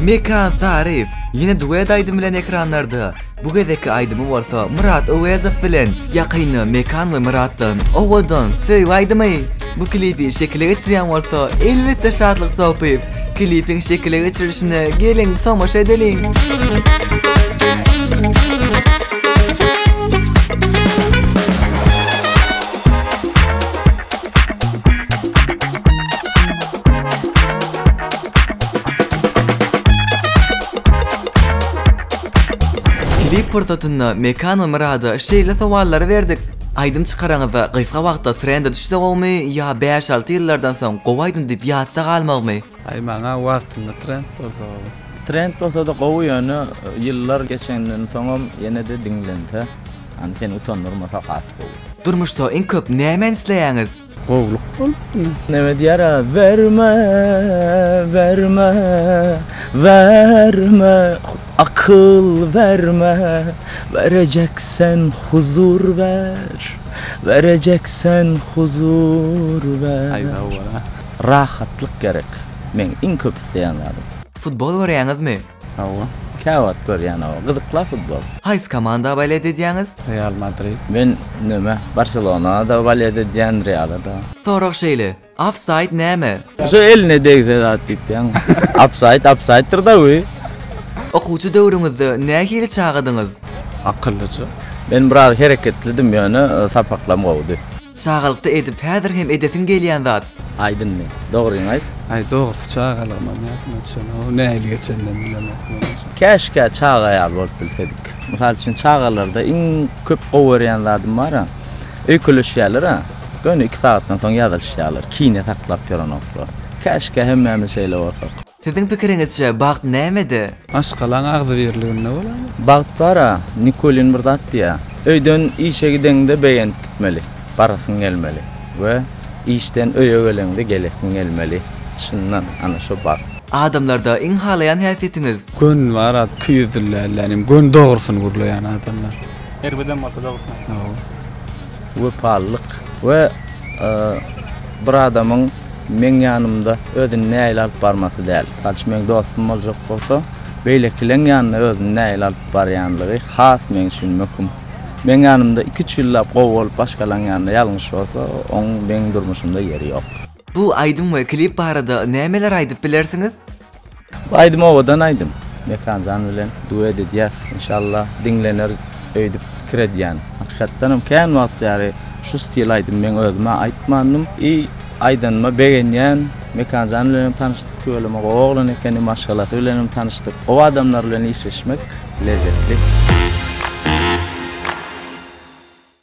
Mekan Taryf ýene duet aýdym bilen ekranlarda. Bu gezekki aýdymy bolsa Myrat Öwezow bilen. Ýakynda Mekan we Myratdan Owadan söýgi aýdymy. Bu klipi şekile geçirýän bolsa elbetde Şatlyk Sopyýew. Klipiň şekile geçirilişine geliň tomaşa edeliň. Klip pursatynda Mekan we Myrada şeýle sowallary berdik. Aýdym çykaraňyzda gysga wagtda trende düşse gowumy ýa bäş-alty ýyllardan soň gowy aýdym diýip ýatda galmagmy? Aý maňa wagtynda trend bolsa gowy. Trend bolsada gowy ýöne ýyllar geçenden soňam ýenede diňlense, ýagny seni utandyrmasa has gowy. Durmuşda iň köp nämäni isleýäňiz? Gowluk bolupdy. Neme diýer-ä? Berme, berme, berme, Akyl berme, berejek sen huzur ber, Berejek sen huzur ber. Rahatlyk gerek, meň iň köp isleýän zadym. Futbol görýäňizmi? Hawa, käwagt görýän hawa. Gyzykla futbol. Haýsy komanda boled edýäňiz? Real Madrid. Men näme, Barselona-da boled edýän, Reala-da. Sorag şeýle, ofsaýd näme? Şu eline degse zat diýipdýäňmi? Ofsaýd ofsaýddyr-da bu. Okuwçy döwrüňizde nähili çagadyňyz? Akyllyja. Men biraz hereketlidim ýöne sapaklam gowudy. Çagalykda edip häzir hem edesiň gelýän zat? Aýdynmy? Dogryňy aýt. Aý dogrusy çagalygymam ýadyma düşenok ow nähili geçeninem bilemok men onja. Käşkä çaga ýaly bolup bilsedik. Mysal üçin çagalarda iň köp gowy görýän zadym bara, öýkeleşýälera, göni iki sagatdan soň ýazylyşýalar, kine saklap ýörenoklar. Käşkä hemmämiz şeýle bolsak. Siziň pikiriňizçe bagt nämede? Maşgalaň agzybirliginde bolaýmaly. Bagt bara, Nikulin bir zat diýýär, Öýden işe gideňde begenip gitmeli, barasyň gelmeli we işden öýe geleňde gelesiň gelmeli. Çyndan, ana şo bagt. Adamlarda iň halaýan häsiýetiňiz? Göni bar at iki ýüzli dälden hem göni dogrusyny gürleýän adamlar. Erbedem bolsa dogrusyny aýtmaly. Wepalylyk we bir adamyň. Meň ýanymda özüni nägile alyp barmasy däl. Mysal üçin, meň dostum boljak bolsa, beýlekileň ýanynda özüni nägile alyp barýanlygy has meň üçin möhüm. Meň ýanymda iki-üç ýyllap gowy bolup, başgalaň ýanynda ýalňyş bolsa, oň meň durmuşymda ýeri ýok. Bu aýdym we klip barada nämeler aýdyp bilersiňiz? Bu aýdym owadan aýdym. Mekanjan bilen duet edýäs. Inşallah diňlener öýdüp pikir edýän. Hakykatdanam kän wagt bäri şu stil aýdym meň özümä aýtmandym. I aýdanyma begenýän. Mekanjan bilen hem tanyşdyk tüweleme gowy oglan ekeni, maşgalasy bilen hem tanyşdyk. Gowy adamlar bilen işleşmek lezzetli.